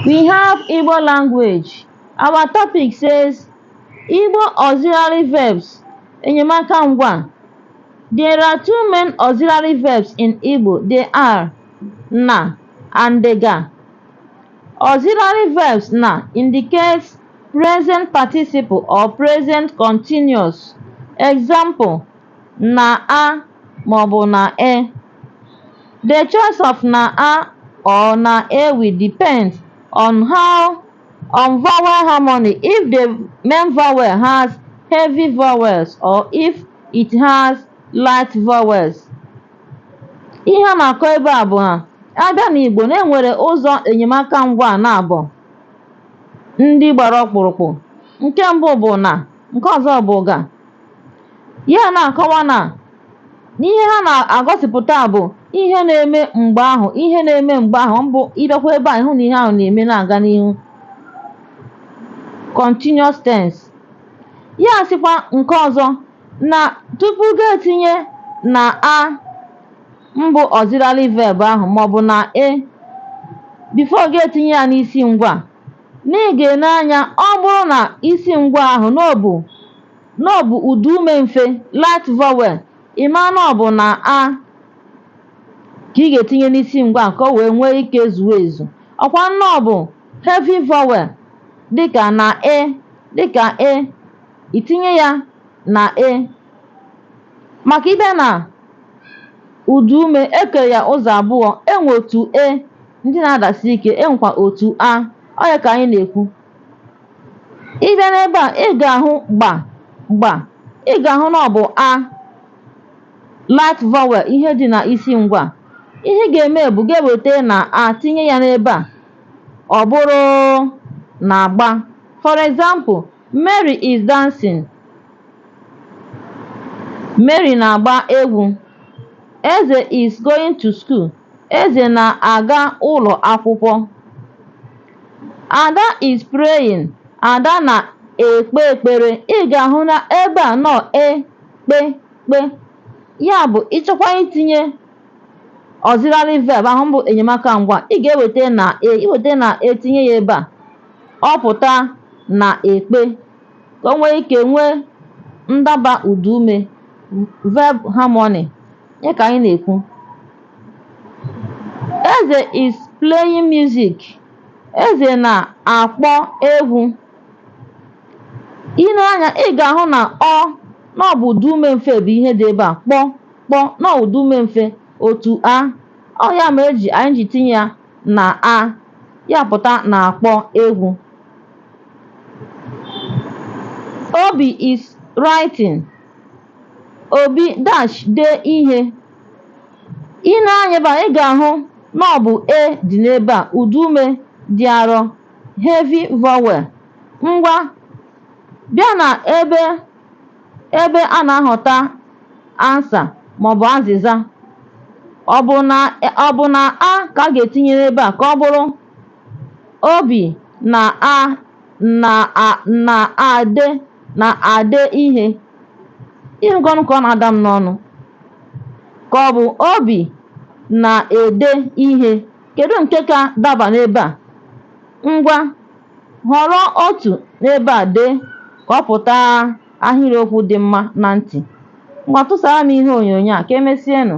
We have Igbo language. Our topic says Igbo auxiliary verbs, enyemaka ngwa. There are two main auxiliary verbs in Igbo. They are na and ga. Auxiliary verbs na indicates present participle or present continuous. Example, na a maọbụ na e. The choice of na-a or na-e will depend on how on vowel harmony if the main vowel has heavy vowels or if it has light vowels. Ihe a na-akọ ebe a bụ na a bịa n'Igbo na e nwere ụzọ enyemaka ngwa naabọ ndị gbara ọkpụrụkpụ nke mbụ bụ na nke ọzọ bụ ga Ya na-akọwa na n'ihe ha na-egosipụta bụ ihe na-eme mgbe ahụ ihe na-eme mgbe ahụ mbụ ị bịakwa ebe a ị hụ na ihe ahụ na-eme na-aga n'ihu continuous tense ya sịkwa nke ọzọ na tupu gị etinye na a mbụ auxiliary verb ahụ maọbụ na e before gị etinye ya n'isi ngwa Na ị ga-ene anya, ọ bụrụ na isi ngwa ahụ na ọ bụ na ọ bụ ụda ume mfe, light vowel, ị mara na ọ bụ na a ka ị ga-etinye n'isi ngwa ahụ ka o wee nwee ike zuo ezu. Ọkwa na ọ bụ heavy vowel dịka na e dịka e i tinye ya na e. Maka ị bịa na ụda ume, e kere ya ụzọ abụọ, e nwe otu e Ndị na-adasi ike, e nwekwa otu a. Ọ ya ka anyị na-ekwu. Ị bịa n'ebe a, ị ga-ahụ gba gba. Ị ga-ahụ na ọ bụ a light vowel ihe dị na isi ngwa. Ihe ị ga-eme bụ gị eweta na a tinye ya n'ebe a. Ọ bụrụ na-agba. For example, Mary is dancing. Mary na-agba egwu. Eze is going to school. Eze na-aga ụlọ akwụkwọ. Ada is praying. Ada na-ekpe ekpere. Ị ga-ahụ na ebe a na ọ e kpe kpe. Ya bụ ị chọkwa itinye auxiliary verb ahụ bụ enyemaka ngwa ị ga-eweta na e i weta na e tinye ya ebe a ọ pụta na-ekpe ka o nwee ike nwee ndaba ụdaume verb harmony ya ka anyị na-ekwu eze is playing music eze na-akpọ egwu i nee anya ị ga-ahụ na ọ na ọ bụ ụda ume mfe bụ ihe dị ebe a kpọ kpọ na ọ ụda ume mfe otu a ọ ya mee e ji anyị ji tinye ya na a ya pụta na-akpọ egwu obi is writing Obi dash dee ihe. Ị nee anya ebe a, ị ga-ahụ na ọ bụ e dị n'ebe a, ụdaume dị arọ, heavy vowel. Ngwa, bịa na ebe ebe a na-ahọta answer maọbụ azịza. Ọ bụ na-a ka a ga-etinye n'ebe a ka ọ bụrụ Obi na a na a na-ade na-ade ihe ị hụgonụ ka ọ na-ada m n'ọnụ ka ọ bụ obi na-ede ihe kedu nke ka daba n'ebe a ngwa họrọ otu n'ebe a dee ka ọ pụta ahịrịokwu dị mma na ntị ngwa tụsara m ihe onyonyo a ka emesienụ